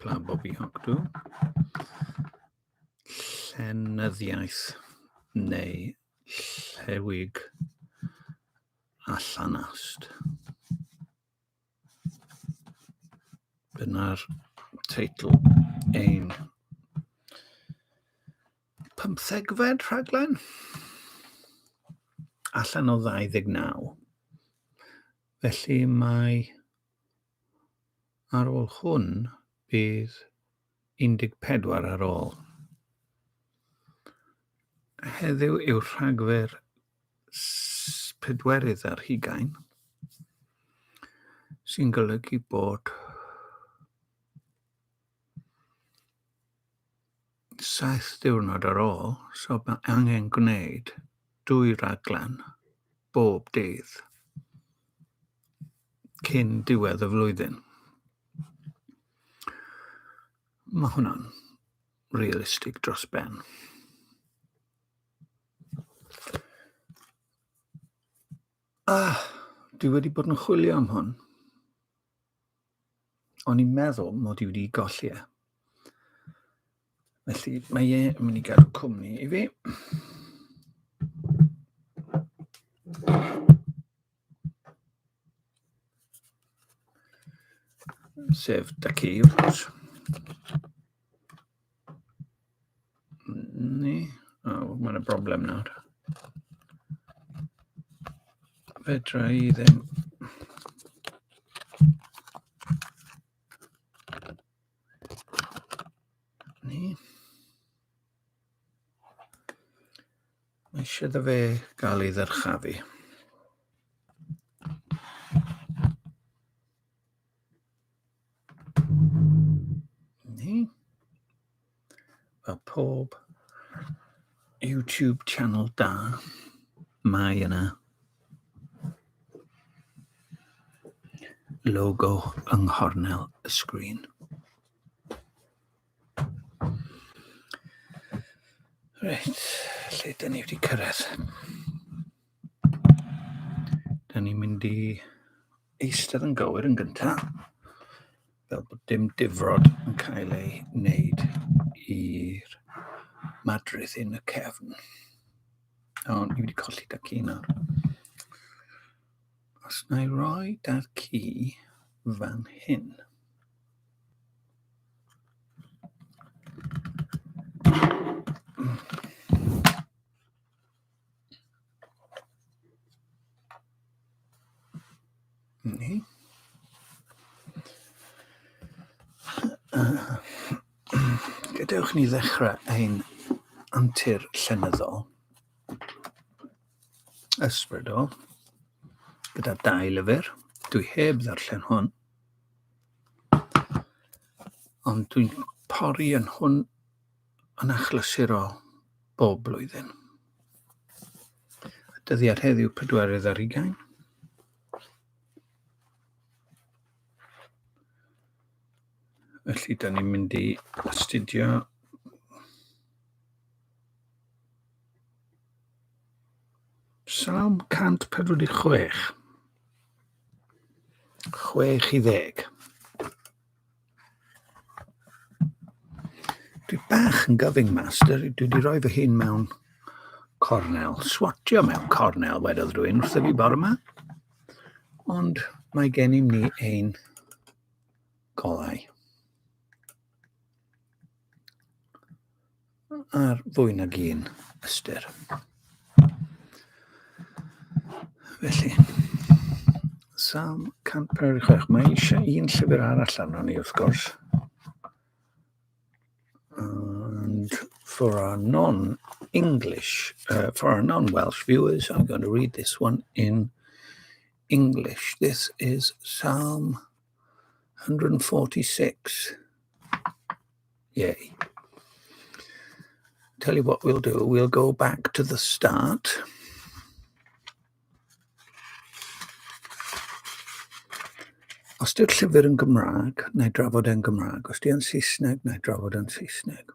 Pla Bobby Hogdw. Llenyddiaeth neu llewig allan ast. Dyna'r teitl ein pymthegfed rhaglen allan o 29. Felly mae Ar ôl hwn, bydd 14 ar ôl. Heddiw yw Rhagfyr pedwerydd ar hugain, sy'n golygu bod Saith diwrnod ar ôl, so mae angen gwneud dwy raglen bob dydd cyn diwedd y flwyddyn. Mae hwnna'n realistig dros ben. Ah, dwi wedi bod yn chwilio am hwn. O'n i'n meddwl mod i wedi golli e. Felly, mae e yn mynd i gael cwmni i fi. Sef da ci, wrth gwrs. Ni. O, oh, mae'n y broblem nawr. Fedra i ddim. Ni. Mae eisiau da fe gael ei ddyrchafu. Ni. Mae pob YouTube channel da. Mae yna logo yng nghornel y sgrin. Reit, lle dyn ni wedi cyrraedd? Da ni'n mynd i eistedd yn gywir yn gyntaf, fel bod dim difrod yn cael ei wneud i'r madrith yn y cefn. O, ni wedi colli da ci nawr. Os na i roi da ci fan hyn. Mm. Ni. Gadewch ni ddechrau ein antur llenyddol. Ysbrydol. Gyda dau lyfr. Dwi heb ddarllen hwn. Ond dwi'n pori yn hwn yn achlysurol bob blwyddyn. Y dyddiad heddiw 4 ar ugain. Felly, da ni'n mynd i astudio Salm 146. 6 i ddeg. Dwi bach yn gyfyng mas. Dwi wedi rhoi fy hun mewn cornel. Swatio mewn cornel, wedodd rwy'n wrth fi bore yma. Ond mae gen i ni ein golau. ar fwy nag un ystyr. Felly, Sam 156, mae eisiau un llyfr arall arno ni wrth gwrs. And for our non-English, uh, for our non-Welsh viewers, I'm going to read this one in English. This is Psalm 146. Yay. Tell you what we'll do, we'll go back to the start. Os di'r llyfr yn Gymraeg, na i drafod e'n Gymraeg. Os di'n Saesneg, na i drafod e'n Saesneg.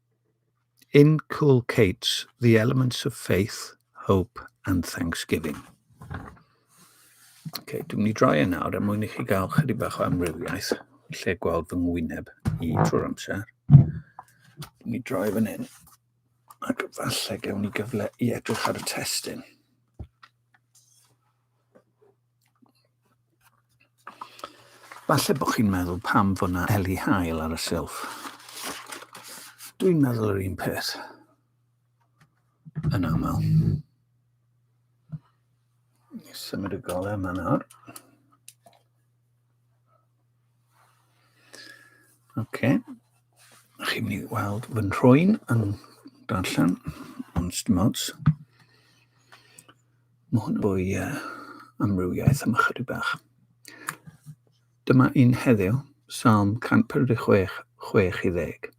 inculcates the elements of faith, hope and thanksgiving. Ok, dwi'n mynd i droi e nawr er mwyn i chi gael chydig bach o amrywiaeth lle gweld fy ngwyneb i trwy'r amser. Dwi'n mynd i droi fan hyn ac falle gewn ni gyfle i edrych ar y testyn. Falle bod chi'n meddwl pam fod na eli hael ar y silff. Dwi'n meddwl yr un peth. Yn aml. Symud y golau yma nawr. Oce. Chi'n mynd i weld fy nhrwy'n yn darllen, ond dim ots. Mae hwn fwy uh, amrywiaeth am ychydig bach. Dyma un heddiw, Psalm 146, 60.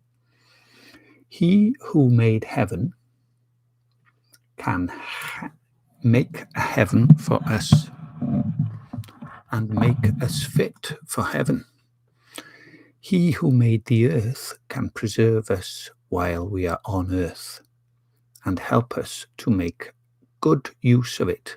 He who made heaven can make a heaven for us and make us fit for heaven. He who made the earth can preserve us while we are on earth and help us to make good use of it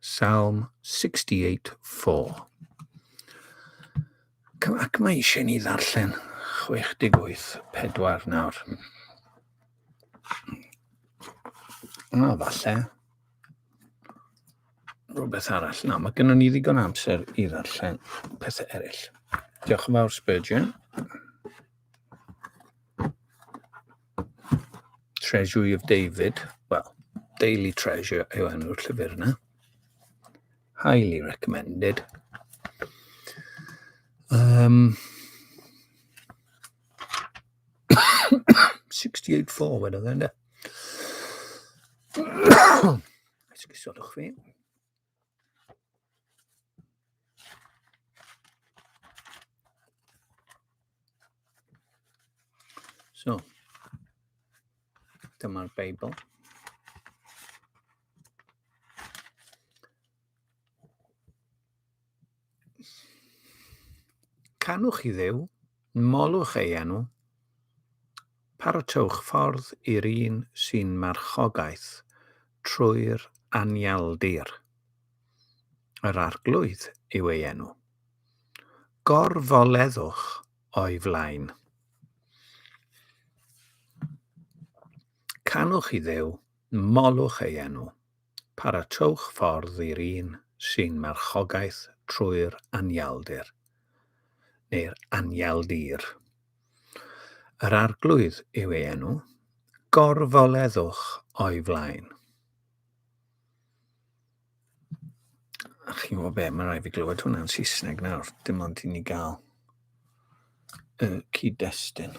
Psalm 68:4. Ac mae eisiau ni ddarllen 68:4 nawr. A falle rhywbeth arall. Na, mae gennym ni ddigon amser i ddarllen pethau eraill. Diolch yn fawr, Spurgeon. Treasury of David, well, Daily Treasure yw enw'r llyfr yna. Highly recommended. Um, 68 4 wedyn dde, ynddo? Esgusodwch fi. So, dyma'r Beibl. Canwch i Dduw, molwch ei enw, parotewch ffordd i'r un sy'n marchogaeth trwy'r anialdir. Yr Arglwydd yw ei enw. Gorfoleddwch o'i flaen. Canwch i Dduw, molwch ei enw. Paratowch ffordd i'r un sy'n marchogaeth trwy'r anialdir, neu'r anialdir. Yr Arglwydd yw ei enw. Gorfoleddwch o'i flaen. A chi'n gwybod be, mae'n rhaid fi glywed hwnna'n Saesneg nawr, dim ond i ni gael y cyd-destun.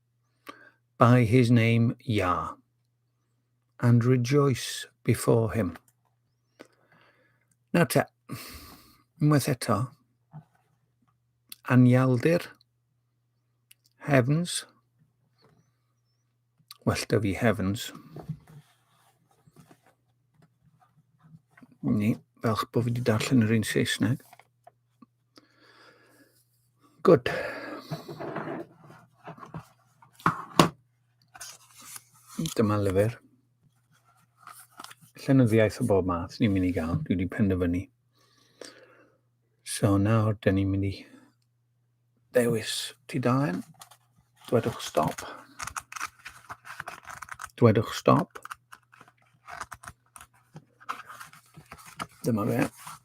by his name, Yah, and rejoice before him. Nawr te, unwaith eto, anialdir, heavens, well da fi heavens, ni, fel bod fi wedi darllen yr un Saesneg. Good. Dyma lyfr. Llenyddiaeth o bob math ni'n mynd i gael. Dwi wedi penderfynu. So nawr, da ni'n mynd i ddewis ti dalen. Dwedwch stop. Dwedwch stop. Dyma fe.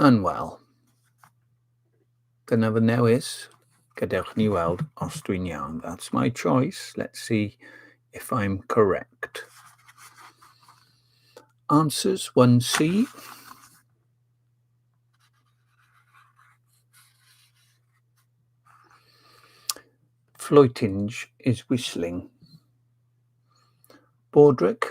yn wel. Dyna fy newis. Gadewch ni weld os dwi'n iawn. That's my choice. Let's see if I'm correct. Answers 1C. Floatinge is whistling. Bordric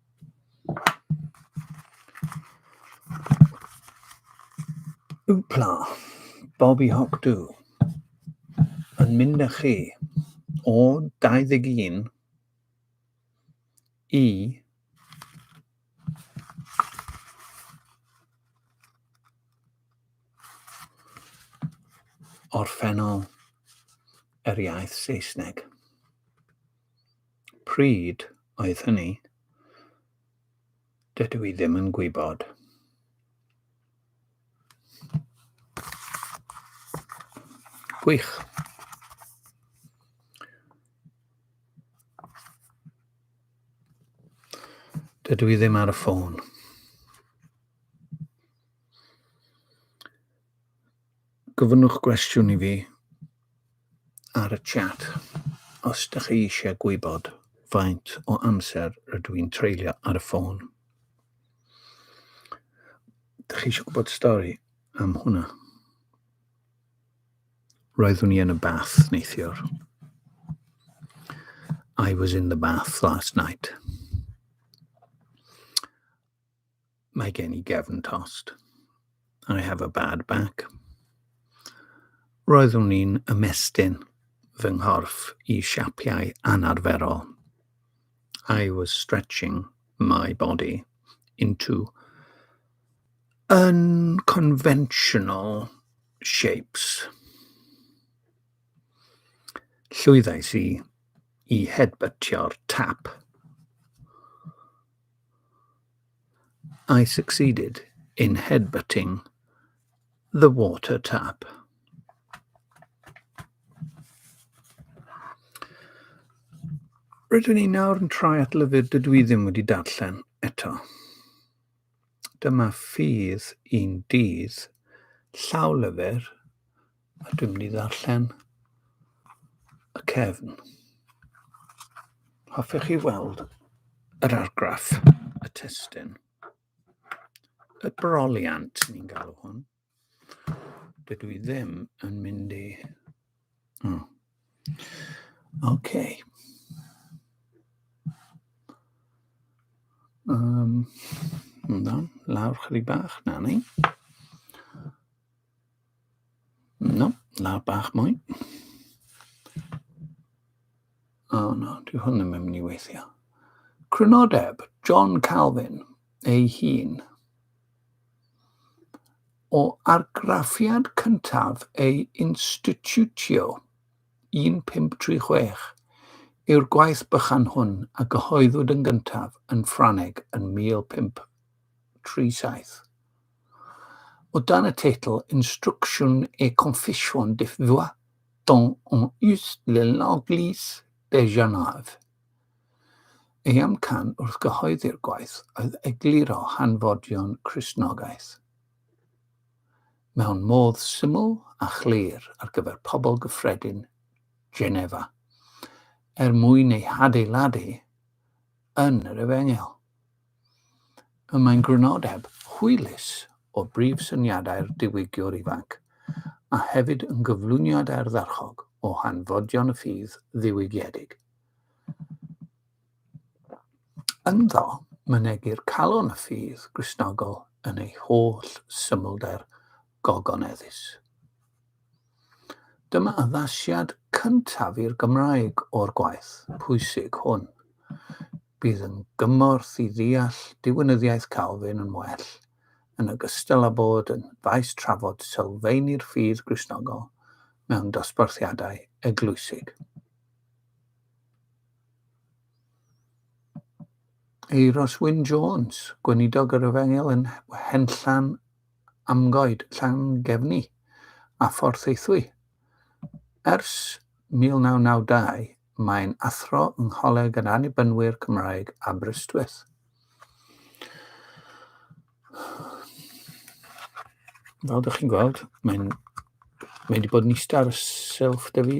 Wpla, Bobby Hawk Dw. Yn mynd â chi o 21 i orffennol yr iaith Saesneg. Pryd oedd hynny? Dydw i ddim yn gwybod. Gwych. Dydw i ddim ar y ffôn. Gofynnwch gwestiwn i fi ar y chat os da chi eisiau gwybod faint o amser rydw i'n treulio ar y ffôn. Da chi eisiau gwybod stori am hwnna? Roeddwn i yn y bath neithiwr. I was in the bath last night. Mae gen i gefn tost. I have a bad back. Roeddwn i'n ymestyn fy nghorff i siapiau anarferol. I was stretching my body into unconventional shapes. Llwyddais i i hedbytio'r tap. I succeeded in headbutting the water tap. Rydw i nawr yn troi at lyfr dydw i ddim wedi darllen eto. Dyma ffydd i'n dydd llaw lyfr A dwi'n mynd i ddarllen y cefn. Hoffech chi weld yr argraff, y testyn, y broliant ni'n galw hwn. Dydw i ddim yn mynd i... Oh. Okay. Um, lawr chydig bach, na ni. No, na bach mwy. O oh, no, dwi hwn yn mynd i weithio. Crynodeb, John Calvin ei hun. O argraffiad cyntaf ei institutio 1536 yw'r gwaith bychan hwn a gyhoeddwyd yn gyntaf yn Ffraneg yn 1537. O dan y teitl 'Instructions et confessions de foi dans un us de l'Eglise de Genève', ei amcan wrth gyhoeddi'r gwaith oedd egluro hanfodion Cristnogaeth mewn modd syml a chlir ar gyfer pobl gyffredin Genefa, er mwyn eu hadeiladu yn yr Efengyl. Y mae'n grynodeb hwylus o brif syniadau'r diwygiwr ifanc, a hefyd yn gyflwyniad ardderchog o hanfodion y ffydd ddiwygiedig. Ynddo, mynegir calon y ffydd Gristnogol yn ei holl symlder gogoneddus. Dyma addasiad cyntaf i'r Gymraeg o'r gwaith pwysig hwn. Bydd yn gymorth i ddeall diwinyddiaeth Calvin yn well, yn ogystal â bod yn faes trafod sylfaenu'r ffydd Gristnogol mewn dosbarthiadau eglwysig. Euros Wyn Jones, gweinidog yr Efengyl yn Henllan amgoed Llangefni a Phorthaethwy. Ers 1992 mae'n athro yng Ngholeg yr Annibynwyr Cymraeg Aberystwyth. Fel ydych chi'n gweld, mae'n mae wedi bod yn eistedd ar y silff da fi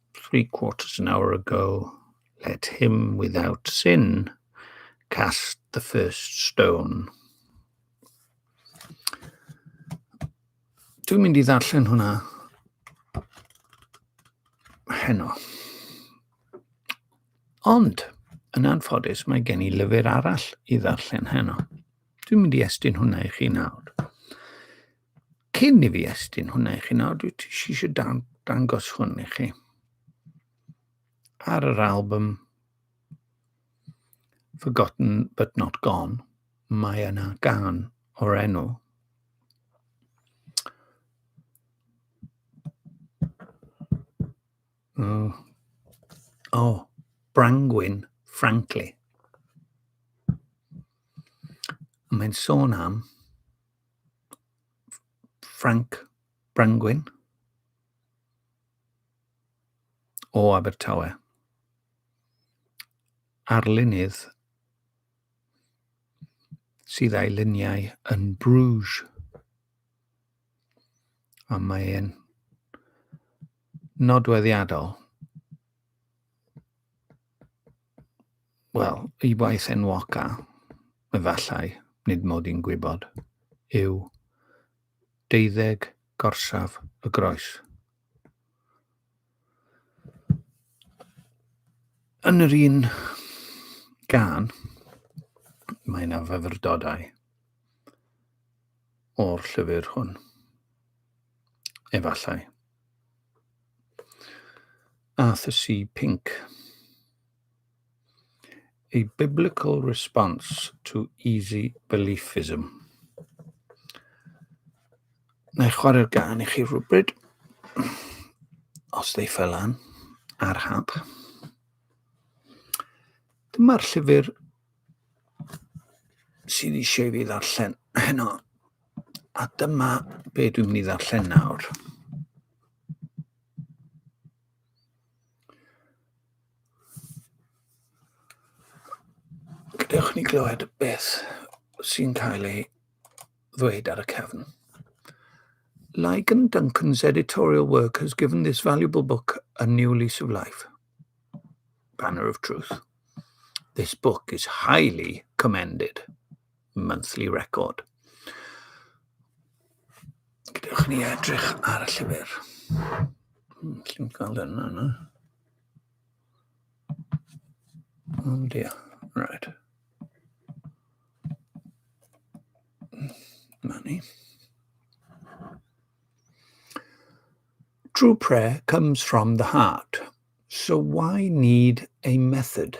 three quarters an hour ago, let him without sin cast the first stone. Dwi'n mynd i ddarllen hwnna heno. Ond, yn anffodus, mae gen i lyfr arall i ddarllen heno. Dwi'n mynd i estyn hwnna i chi nawr. Cyn i fi estyn hwnna i chi nawr, dwi eisiau dan, dangos hwn i chi. Ar yr album Forgotten But Not Gone, mae yna gan o'r enw oh, oh, Brangwyn Frankly. Mae'n sôn am Ffrainc Brangwyn o Abertawe. Arlunydd sydd a'i luniau yn Bruges. A mae e'n nodweddiadol wel, i waith enwoca, efallai, nid mod i'n gwybod, yw deuddeg gorsaf y groes. Yn yr un gan, mae yna fyfyrdodau o'r llyfr hwn. Efallai. Arthursi Pink, A Biblical Response to Easy Beliefism. Na i chwarae'r gan i chi rhywbryd, os ddeifa lan, ar hap. Dyma'r llyfr sydd eisiau fi ddarllen heno. A dyma be dwi'n mynd i ddarllen nawr. Gadewch ni glywed beth sy'n cael ei ddweud ar y cefn. Like and Duncan's editorial work has given this valuable book a new lease of life. Banner of Truth. This book is highly commended. monthly record. Gadewch ni edrych ar y llyfr. Hmm, Lly'n cael yna, yna. Oh dear, right. Money. True prayer comes from the heart, so why need a method?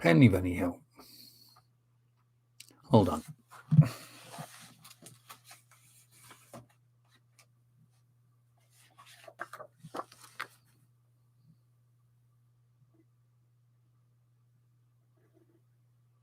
Pen i fyny, Hill. Hold on.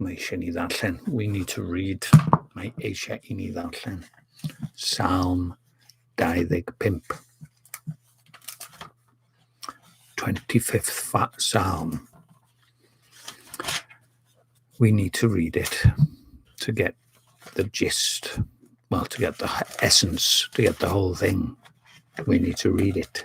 Mae eisiau ni ddarllen. We need to read. Mae eisiau i ni ddarllen. Salm 25. 25th Psalm. We need to read it to get the gist. Well, to get the essence, to get the whole thing. We need to read it.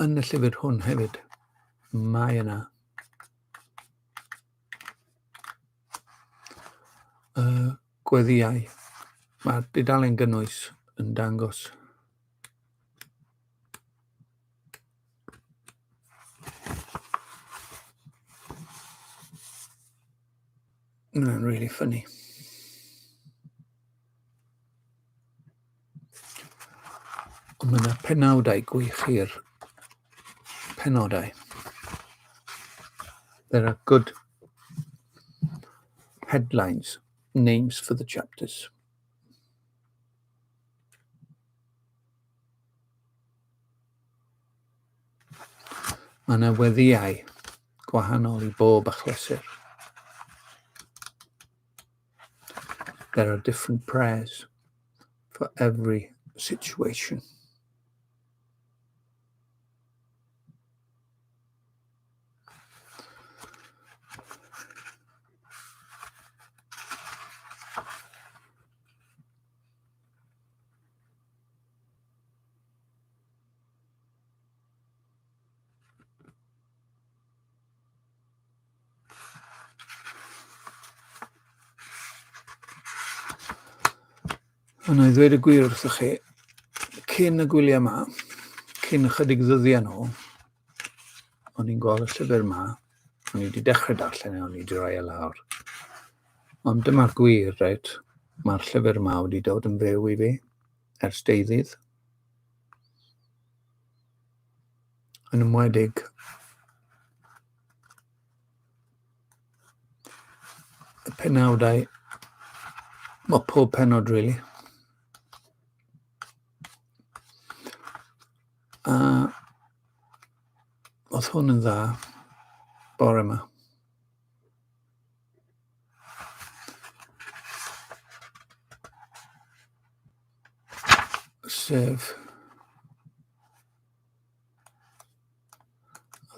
Yn y llyfr hwn hefyd, mae yna y gweddiau. Mae'r dudalen gynnwys yn dangos Mae'n really funny. Ond mae yna penawdau gwych i'r penodau. There are good headlines, names for the chapters. Mae yna weddiau gwahanol i bob achlysur. There are different prayers for every situation. Ond i ddweud y gwir wrthych chi, cyn y gwyliau yma, cyn ychydig ddyddiau nhw, o'n i'n gweld y llyfr yma, o'n i wedi dechrau darllen e, o'n i wedi rhoi e lawr. Ond dyma'r gwir, reit, mae'r llyfr yma wedi dod yn fyw i fi. ers deuddydd. Yn ymwedig y penawdau, mae pob penod rili. Really. A oedd hwn yn dda bore yma. Sef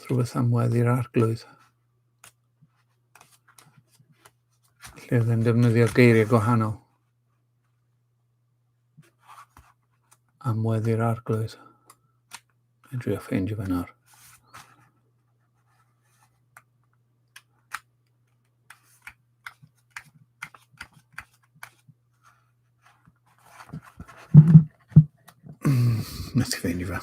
rhywbeth am weddi'r arglwydd. Lle oedd e'n defnyddio geiriau gwahanol. am weddi'r arglwydd. Dwi'n drio ffeindio fe nawr. Nes i ffeindio fe.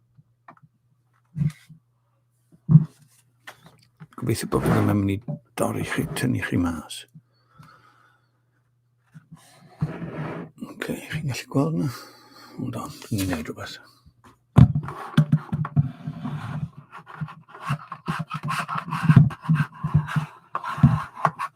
Gobeithio bod hwnna'n mynd i dorri chi, tynnu chi mas. Ok, chi'n gallu gweld yna? Hold on, ni'n gwneud rhywbeth.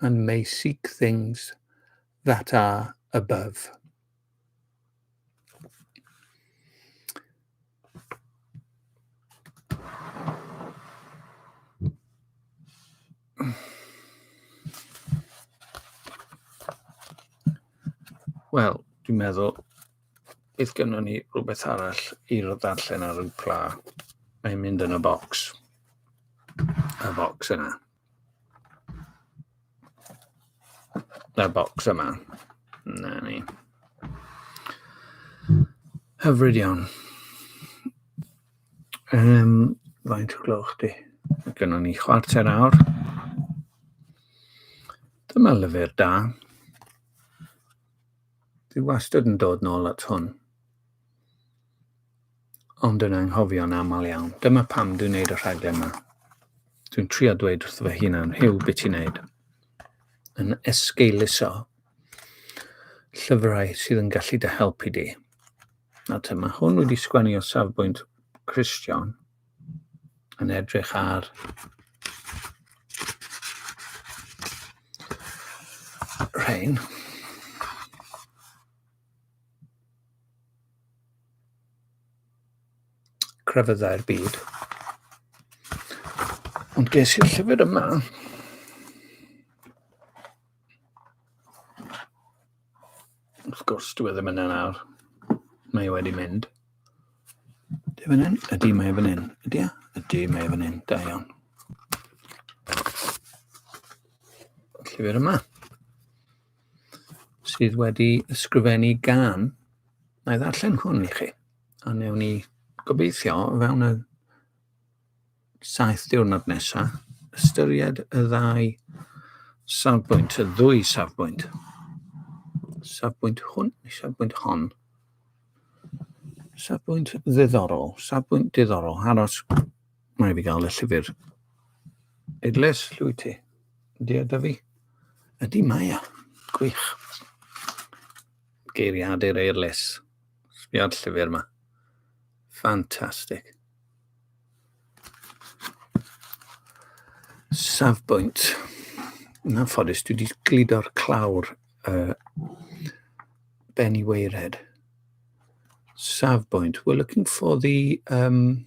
and may seek things that are above. Wel, dwi'n meddwl, bydd gynnon ni rhywbeth arall i ddarllen ar y pla. Mae'n mynd yn y bocs. Y bocs yna. That box yma. Na ni. Hyfryd iawn. Um, faint o gloch di? Gynno ni chwarter awr. Dyma lyfr da. Dwi wastad yn dod nôl at hwn. Ond yn anghofio'n aml iawn. Dyma pam dwi'n neud y rhaglen yma. Dwi'n trio dweud wrth fy hunan, Hugh, beth ti'n neud? Yn esgeuluso llyfrau sydd yn gallu dy helpu di. A te, mae hwn wedi sgwennu o safbwynt Christian yn edrych ar rhain. crefyddau'r byd. Ond ges i'r llyfr yma. Wrth gwrs, dwi e ddim yn yna. Mae e wedi mynd. Ydy fan hyn? Ydy, mae e fan hyn. Ydy e? Ydy, mae e fan hyn. Da iawn. Llyfr yma. sydd wedi ysgrifennu gan. Na i ddarllen hwn i chi. A newn ni gobeithio fewn y saith diwrnod nesaf ystyried y ddau safbwynt, y ddwy safbwynt. Safbwynt hwn, safbwynt hon. Safbwynt ddiddorol, safbwynt diddorol, aros Mae fi gael y llyfr Idles, llwy ti. Ydy e da fi? Ydy mae e. Gwych. Geiriadur Eirles. Sbia'r llyfr yma. Ffantastig. Safbwynt. Na ffodus, dwi wedi gludo'r clawr uh, Benny Weired. Safbwynt. We're looking for the um,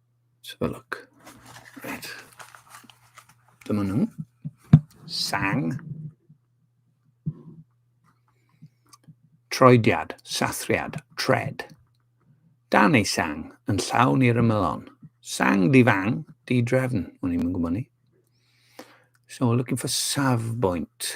Let's have a look. Right. Dyma nhw. Sang. Troediad, sathriad, tred. Dan ei sang yn llawn i'r ymylon. Sang difang, di-drefn, o'n i'n gwybod ni. So, looking for safbwynt.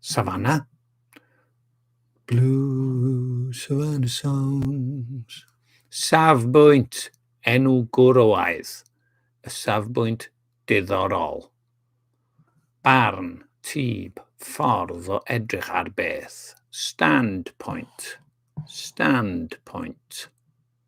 Savannah. Blue Savannah Songs. Safbwynt, enw gwrywaidd, y safbwynt diddorol. Barn, tyb, ffordd o edrych ar beth. Standpoint, standpoint.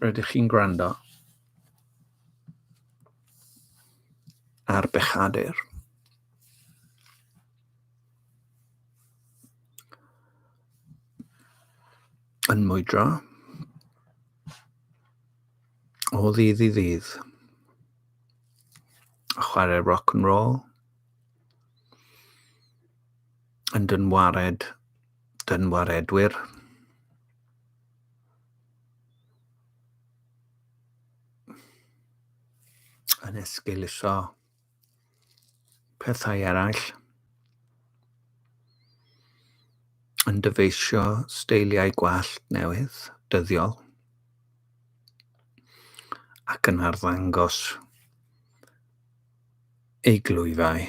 Rydych chi'n gwrando ar bechadur. Yn mwydro o ddydd i ddydd. A chwarae rock and roll. Yn dynwared, dynwaredwyr. yn esgeuluso pethau eraill, yn dyfeisio steiliau gwallt newydd, dyddiol, ac yn arddangos ei glwyfau.